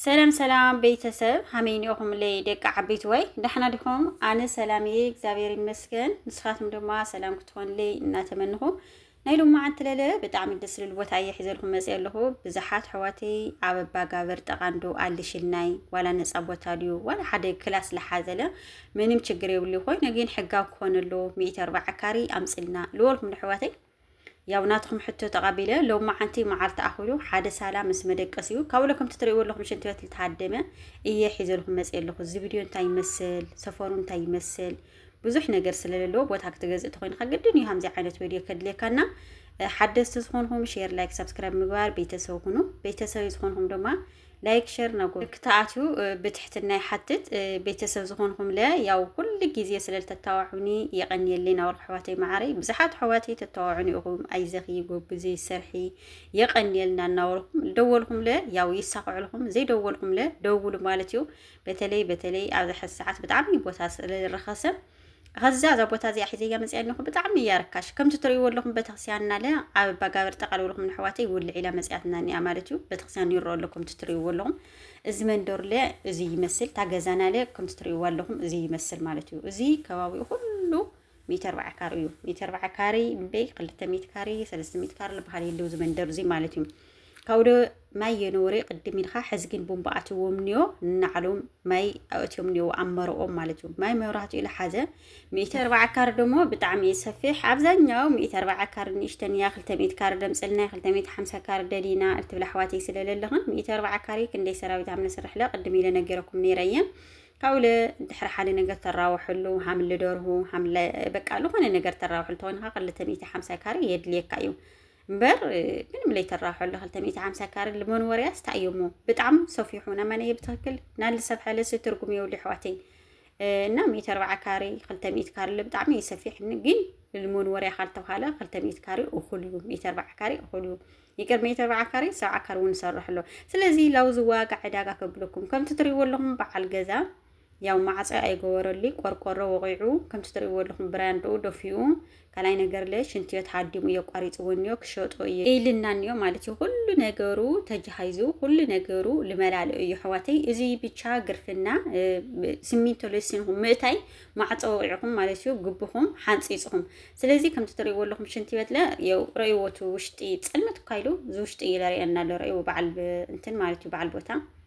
ሰላም ሰላም ቤተሰብ ሃመይ ኒኦኹምለይ ደቂ ዓበይትዋይ ዳሕና ዲኹም ኣነ ሰላም እየ እግዚኣብሔር ይመስገን ንስኻትኩም ድማ ሰላም ክትኾንለይ እናተመንኹ ናይ ሎም መዓንቲ ለለ ብጣዕሚ ደስ ዝብል ቦታ እየ ሒዘልኩም መፅ ኣለኹ ብዙሓት ሕዋተይ ኣብ ኣባጋበር ጠቓንዶ ኣልሽልናይ ዋላ ነፃ ቦታ ድዩ ዋላ ሓደ ክላስ ዝሓዘለ ምንም ችግር የብሉ ኮይኑ ግን ሕጋዊ ክኾነሉ ሚእቲ ኣርባዓ ካሪ ኣምፅልና ልወልኩም ንሕዋተይ ያው ናትኩም ሕቶ ተቐቢለ ሎም መዓንቲ መዓልቲ ኣኹሉ ሓደ ሳላ ምስ መደቀስ እዩ ካብኡ ለ ከምቲ ትሪእዎ ኣለኹም ሽንቲ ቤት ዝተሃደመ እየ ሒዘልኩም መፅ ኣለኹ እዚ ቪድዮ እንታይ ይመስል ሰፈሩ እንታይ ይመስል ብዙሕ ነገር ስለለለዎ ቦታ ክትገዝእ ተኮይንካ ግድን እዩ ከምዚ ዓይነት ቪድዮ ከድልየካና ሓደስቲ ዝኾንኹም ሼር ላይክ ሰብስክራይብ ምግባር ቤተሰብ ሁኑ ቤተሰብ ዝኾንኹም ድማ ላይክ ሸር ናጎ ክተኣትዩ ብትሕትና ይሓትት ቤተሰብ ዝኾንኹም ለ ያው ኩሉ ግዜ ስለ ተታዋዑኒ የቐንየለይ ናወል ኣሕዋተይ መዓረይ ብዙሓት ኣሕዋተይ ተታዋዑኒ ኢኹም ኣይዘኺ ጎብዚ ሰርሒ የቐንየልና እናወልኩም ደወልኩም ለ ያው ይሳኽዕልኩም ዘይደወልኩም ለ ደውሉ ማለት እዩ በተለይ በተለይ ኣብዚ ሕዚ ሰዓት ብጣዕሚ ቦታ ስለዝረኸሰ ኸዛ እዛ ቦታ እዚኣ ሒዘያ መፅኣ ኣለኹ ብጣዕሚ እያ ርካሽ ከምቲ ትርእይዎ ኣለኹም ቤተክርስቲያን እናለ ኣብ ኣባጋብር ጠቃል ብልኩም ንሕዋተይ ይውልዕ ኢላ መፅኣትና እኒኣ ማለት እዩ ቤተክርስቲያን ይረኦ ኣሎ ከምቲ ትርእይዎ ኣለኹም እዚ መንደርለ እዚ ይመስል እታ ገዛናለ ከምቲ ትርእይዎ ኣለኹም እዚ ይመስል ማለት እዩ እዚ ከባቢኡ ኩሉ ሚእቲ ኣርባዓ ካሪ እዩ ሚእቲ ኣርባዓ ካሪ እምበይ ክልተ ሚእቲ ካሪ ሰለስተ ሚእቲ ካሪ ዝበሃል የለው እዚ መንደር እዚ ማለት እዩ ካውደ ማይ የነወሬ ቅድም ኢልካ ሕዚ ግን ቡምባ ኣትዎም ኒዮ ንናዕሎም ማይ ኣእትዮም ኒዮ ኣብ መረኦም ማለት እዩ ማይ መብራህትኡ ኢለ ሓዘ ሚእቲ ኣርባዓ ካር ደሞ ብጣዕሚ እዩ ሰፊሕ ኣብዛኛው ሚእቲ ኣርባዓ ካር ንእሽተን እያ ክልተ ሚእቲ ካር ደምፅልና ክልተ ሚእቲ ሓምሳ ካር ደሊና እትብል ኣሕዋተይ ስለለለኽን ሚእቲ ኣርባዓ ካሪ ክንደይ ሰራዊት ኣብ ነስርሕ ለ ቅድም ኢለ ነገረኩም ነይረ እየ ካብኡ ለ ድሕሪ ሓደ ነገር ተራውሐሉ ሃምሊ ደርሁ ሃምለ በቃ ዝኾነ ነገር ተራውሐሉ ተኾይንካ ክልተ ሚእቲ ሓምሳ ካሪ የድልየካ እዩ እምበር ምንም ለይተራሖ ለ ክልተ ሚእቲ ሓምሳ ካረ ልመን ወርያስ ታእየሞ ብጣዕም ሰፊሑ ነመነየ ብትክክል ናል ሰብ ሓለስ ትርጉም የውሉ ኣሕዋተይ እና ሚእቲ ኣርባዓ ካሬ ክልተ ሚእቲ ካሬ ብጣዕሚ እዩ ሰፊሕ ግን ልሞን ወርያ ካልተብሃለ ክልተ ሚእቲ ካሬ እኹል እዩ ሚእቲ ኣርባዓ ካሬ እኹል እዩ ይቅር ሚእቲ ኣርባዓ ካሬ ሰብዓ ካሬ እውን ይሰርሕ ኣሎ ስለዚ ላውዚ ዋጋ ዕዳጋ ከብለኩም ከምቲ ትሪእዎ ኣለኹም በዓል ገዛ ያው ማዕጸ ኣይገበረሉይ ቆርቆሮ ወቂዑ ከምቲ ትርእይዎ ኣለኹም ብራንድኡ ደፊኡ ካልኣይ ነገር ለ ሽንትዮት ሃዲሙ እዮ ቋሪጽዎ እንዮ ክሸጦ እየ ኢልና እንዮ ማለት እዩ ኩሉ ነገሩ ተጃሃይዙ ኩሉ ነገሩ ልመላልኦ እዩ ኣሕዋተይ እዚ ብቻ ግርፍና ስሚንቶ ለሲንኹም ምእታይ ማዕጸ ወቂዕኹም ማለት እዩ ግብኹም ሓንጺጽኹም ስለዚ ከምቲ ትርእይዎ ኣለኹም ሽንትዮት ለ የው ረእይዎቱ ውሽጢ ጸልመት እኳ ኢሉ እዚ ውሽጢ እዩ ለርእየና ኣሎ ረእይዎ በዓል እንትን ማለት እዩ በዓል ቦታ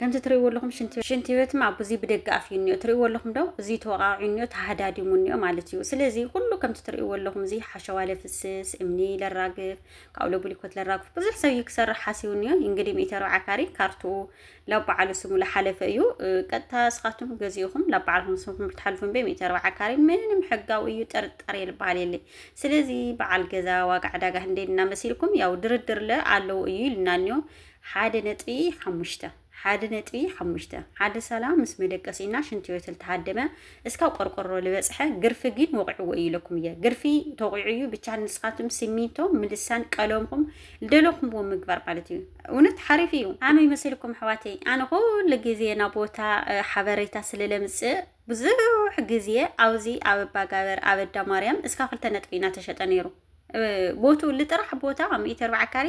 ከምቲ ትርእይዎ ኣለኹም ሽንቲ ሽንቲ ቤት እማ ብዙይ ብደገ ኣፍዩ እኒኦ ትርእይዎ ኣለኹም ዶ እዙይ ተወቃዕዩ እኒኦ ተሃዳዲሙ እኒኦ ማለት እዩ ስለዚ ኩሉ ከምቲ ትርእይዎ ኣለኹም እዚ ሓሸዋ ለፍስስ እምኒ ለራግፍ ካብኡ ለቡሊኮት ለራግፍ ብዙሕ ሰብ እዩ ክሰርሕ ሓሲቡ እኒኦ እንግዲህ ሚእቲ ኣርብዓ ካሪ ካርትኡ ላብ በዓሉ ስሙ ለሓለፈ እዩ ቀጥታ እስኻቱም ገዚኡኹም ላብ በዓልኩም ስምኩም ልትሓልፉ እምበይ ሚእቲ ኣርብዓ ካሪ ምንም ሕጋዊ እዩ ጥርጣሬ ልበሃል የለይ ስለዚ በዓል ገዛ ዋጋ ዕዳጋ ህንደይ እናመሲልኩም ያው ድርድር ለ ኣለዉ እዩ ኢልና እኒኦ ሓደ ነጥቢ ሓሙሽተ ሓደ ነጥቢ ሓሙሽተ ሓደ ሰላ ምስ መደቀሲና ሽንቲ ቤት ልተሃደመ እስካብ ቆርቆሮ ልበፅሐ ግርፊ ግን ወቂዕዎ እዩ ኢለኩም እየ ግርፊ ተቂዑ እዩ ብቻ ንስኻትም ሲሚንቶ ምልሳን ቀለምኩም ልደለኹምዎ ምግባር ማለት እዩ እውነት ሓሪፍ እዩ ኣመይ መሲልኩም ኣሕዋተይ ኣነ ኩሉ ግዜ ናብ ቦታ ሓበሬታ ስለ ለምፅእ ብዙሕ ግዜ ኣብዚ ኣብ ኣባጋበር ኣብ ኣዳማርያም እስካ ክልተ ነጥቢ ኢና ተሸጠ ነይሩ ቦቱ ልጥራሕ ቦታ ሚእቲ ኣርባዓ ካሪ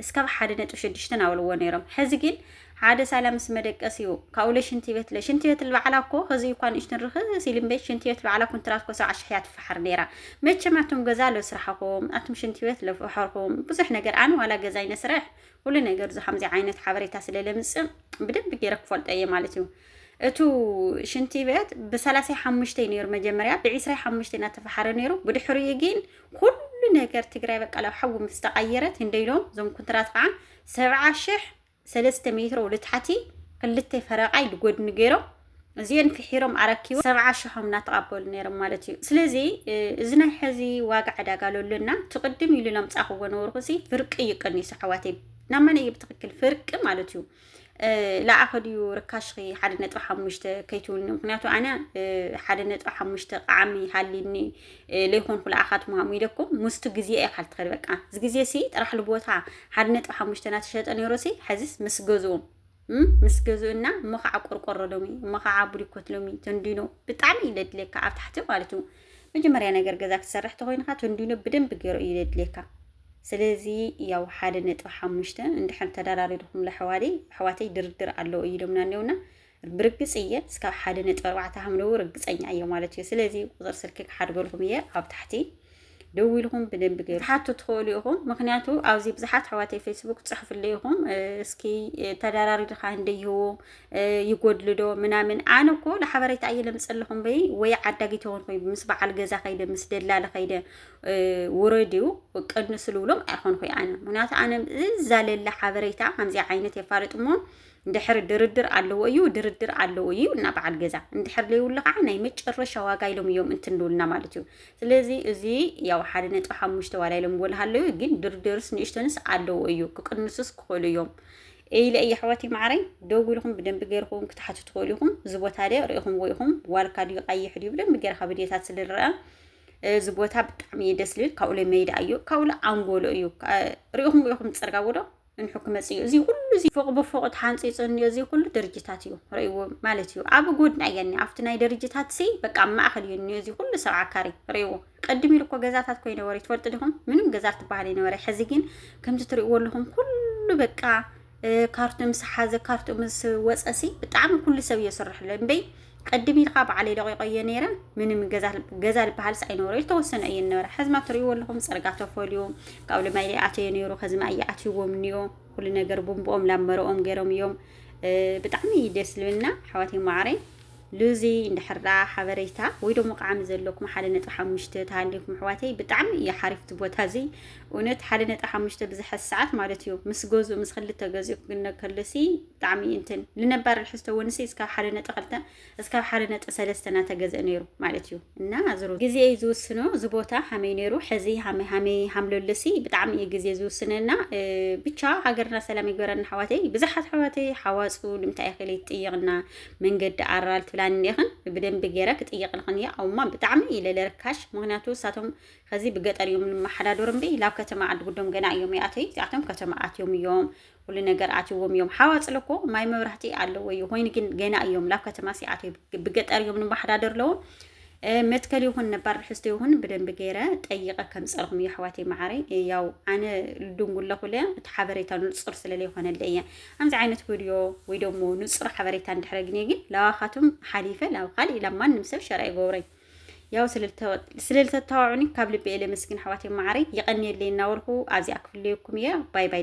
እስካብ ሓደ ነጥቢ ሽዱሽተ ናበልዎ ነይሮም ሕዚ ግን ሓደ ሳላ ምስ መደቀሲኡ ካብኡ ለሽንቲ ቤት ለሽንቲ ቤት ልበዓላ እኮ ከዚ እኳ ንእሽትን ርኽ ሲሊም ቤት ሽንቲ ቤት ልበዓላ ኩንትራት እኮ ሰብዓ ሽሕ እያ ትፈሓር ነይራ መቸም ኣቱም ገዛ ለስራሕኹም ኣቱም ሽንቲ ቤት ለፈሐርኹም ብዙሕ ነገር ኣን ዋላ ገዛይ ነስርሕ ኩሉ ነገር ዙ ከምዚ ዓይነት ሓበሬታ ስለ ለምፅእ ብደንብ ገይረ ክፈልጦ እየ ማለት እዩ እቱ ሽንቲ ቤት ብሰላሳይ ሓሙሽተይ ነይሩ መጀመርያ ብዒስራይ ሓሙሽተይ እናተፈሓረ ነይሩ ብድሕሪኡ ግን ኩሉ ነገር ትግራይ በቃ ላብ ሓዊ ምስ ተቐየረት እንደኢሎም እዞም ኩንትራት ከዓ ሰብዓ ሽሕ ሰለስተ ሜትሮ ልታሕቲ ክልተ ፈረቃ ኢሉ ጎድኒ ገይሮም እዚኦን ፍሒሮም ኣረኪቦም ሰብዓ ሽሖም እናተቐበሉ ነይሮም ማለት እዩ ስለዚ እዚ ናይ ሕዚ ዋጋ ዕዳጋ ለሎና ትቕድም ኢሉ ለምፃኽዎ ነበርኩ ሲ ፍርቂ እዩ ቀኒሱ ኣሕዋተይ ናመን እዩ ብትክክል ፍርቂ ማለት እዩ ለኣኸ ድዩ ርካሽኺ ሓደ ነጥቢ ሓሙሽተ ከይትውኒ ምክንያቱ ኣነ ሓደ ነጥቢ ሓሙሽተ ቃዓሚ ሃሊኒ ለይኮንኩ ለኣኻ ትምሃሙ ኢለኩም ምስቱ ግዜ እየ ካልትኸድ በቃ እዚ ግዜ ሲ ጥራሕ ልቦታ ሓደ ነጥቢ ሓሙሽተ ናተሸጠ ነይሮ ሲ ሕዚስ ምስ ገዝኡ ምስ ገዝኡና እሞ ከዓ ቆርቆሮ ሎሚ እሞ ከዓ ቡሊኮት ሎሚ ተንዲኖ ብጣዕሚ እዩ ለድልየካ ኣብ ታሕቲ ማለት እዩ መጀመርያ ነገር ገዛ ክትሰርሕ ተኮይንካ ተንዲኖ ብደንብ ገይሩ እዩ ዘድልየካ ስለዚ ያው ሓደ ነጥቢ ሓሙሽተ እንድሕር ተደራሪርኩም ለሕዋደይ ኣሕዋተይ ድርድር ኣለዎ እዩ ኢሎምና እኒውና ብርግፅ እየ እስካብ ሓደ ነጥቢ ኣርባዕተ ሃምለዉ ርግፀኛ እየ ማለት እዩ ስለዚ ቁፅር ስልኪ ክሓድገልኩም እየ ኣብ ታሕቲ ደው ኢልኩም ብደንብ ገይሩ ትሓቱ ትኽእሉ ኢኹም ምክንያቱ ኣብዚ ብዙሓት ኣሕዋተይ ፌስቡክ ትፅሕፍሉ ኢኹም እስኪ ተደራሪድካ እንደ ይህቡ ይጎድልዶ ምናምን ኣነ እኮ ለሓበሬታ ኣየ ለምፀለኹም በይ ወይ ዓዳጊ ተውን ኮይ ምስ በዓል ገዛ ከይደ ምስ ደላለ ከይደ ውረድዩ ቀንሱ ልብሎም ኣይኾን ኮይ ኣነ ምክንያቱ ኣነ እዛለለ ሓበሬታ ከምዚ ዓይነት የፋልጥ እሞ ድሕሪ ድርድር ኣለዎ እዩ ድርድር ኣለዎ እዩ እና በዓል ገዛ እንድሕር ለይብሉ ከዓ ናይ መጨረሻ ዋጋ ኢሎም እዮም እንትንብሉና ማለት እዩ ስለዚ እዚ ያው ሓደ ነጥቢ ሓሙሽተ ዋላ ኢሎም ጎልሃለዩ ግን ድርድርስ ንእሽተንስ ኣለዎ እዩ ክቅንሱስ ክኽእሉ እዮም ኤይለ እየ ኣሕዋትይ ማዓረይ ደዊልኩም ብደንቢ ገይርኩም ክትሓቱ ትክእሉ ኢኩም እዚ ቦታ ድየ ሪኢኩምዎ ኢኩም ዋልካ ድዩ ቃይሕ ድዩ ብደንቢ ገይርካ ብድዮታት ስለ ንረኣ እዚ ቦታ ብጣዕሚ እዩ ደስ ልብል ካብኡለ መይዳ እዩ ካብኡለ ኣንጎሎ እዩ ሪኢኩምዎ ኢኩም ፅርጋ ወዶ እንሑ ክመፅ እዩ እዚ ኩሉ እዚ ፎቅ ብፎቅ ተሓንፂፁ እንዮ እዚ ኩሉ ደረጃታት እዩ ርእይዎ ማለት እዩ ኣብ ጎድና እያ ኣብቲ ናይ ደረጃታት ሲ በቃ ኣብ ማእከል እዩ እንዮ እዚ ኩሉ ሰብዓ ካሬ ርእይዎ ቅድም ኢሉ እኮ ገዛታት እኮ ይነበረ ትፈልጡ ዲኹም? ምንም ገዛ ትበሃል ይነበረ። ሕዚ ግን ከምዚ ትሪእዎ ኣለኹም ኩሉ በቃ ካርቱ ምስ ሓዘ ካርቱ ምስ ወፀሲ ብጣዕሚ ኩሉ ሰብ እዮ ስርሕሎ እምበይ ቅድም ኢልካ በዓለይ ደቂቆ እየ ነይረ ምንም ገዛ ዝበሃልስ ኣይነበረ ዝተወሰነ እየ ነበረ ሕዝማ ትሪእዎ ኣለኹም ፅርጋ ተፈልዩ ካብ ልማይ ይኣተዮ ነይሩ ከዝማ እየኣትይዎም እኒኦ ኩሉ ነገር ቡንብኦም ላመረኦም ገይሮም እዮም ብጣዕሚ እዩ ደስ ልብልና ኣሕዋተይ ማዕረይ ሉዚ እንድሕር ደኣ ሓበሬታ ወይ ደሞ ቃዕሚ ዘለኩም ሓደ ነጥቢ ሓሙሽተ ተሃሊኩም ኣሕዋተይ ብጣዕሚ እዩ ሓሪፍ እቲ ቦታ እዚ እውነት ሓደ ነጥቢ ሓሙሽተ ብዝሐ ሰዓት ማለት እዩ ምስ ገዝኡ ምስ ክልተ ገዝኡ ክግነ ከሎሲ ብጣዕሚ እንትን ልነባር ልሕዝቶ ወንሲ እስካብ ሓደ ነጥቢ ክልተ እስካብ ሓደ ነጥቢ ሰለስተ እናተገዝአ ነይሩ ማለት እዩ እና ዝሩ ግዜ እዩ ዝውስኖ እዚ ቦታ ሃመይ ነይሩ ሕዚ ሃመይ ሃመይ ሃምለሎሲ ብጣዕሚ እዩ ግዜ ዝውስነና ብቻ ሃገርና ሰላም ይግበረና ኣሕዋተይ ብዙሓት ኣሕዋተይ ሓዋፁ ንምንታይ ይኽእል ይጥየቕና መንገዲ ኣራል ትብላኒ እንዲኽን ብደንቢ ገይረ ክጥይቅልኽን እየ ኣውማ ብጣዕሚ ኢለ ለርካሽ ምክንያቱ እሳቶም ከዚ ብገጠር እዮም ንመሓዳዶር እምበይ ላብ ከተማ ዓዲ ጉዶም ገና እዮም ይኣተይ እዚኣቶም ከተማ ኣትዮም እዮም ኩሉ ነገር ኣትዎም እዮም ሓዋፅለ እኮ ማይ መብራህቲ ኣለዎ እዩ ኮይኑ ግን ገና እዮም ላብ ከተማ ሲኣተዩ ብገጠር እዮም ንመሓዳዶር ኣለዎም መትከል ይኹን ነባር ርሕስቲ ይኹን ብደንቢ ገይረ ጠይቐ ከምፀልኹም እዩ ኣሕዋተይ መዓረይ ያው ኣነ ልድንጉለኹ ለ እቲ ሓበሬታ ንፁር ስለለይኮነለ እየ ኣምዚ ዓይነት ቪድዮ ወይ ደሞ ንፁር ሓበሬታ እንድሕረ ግኔ ግን ላዋኻቱም ሓሊፈ ላብ ካሊእ ላብ ማንም ሰብ ሸራ ይገብረይ ያው ስለልተታዋዑኒ ካብ ልቢ እየ ለመስግን ኣሕዋተይ መዓረይ ይቐንየለይ እናበልኩ ኣብዚኣ ክፍለየኩም እየ ባይ ባይ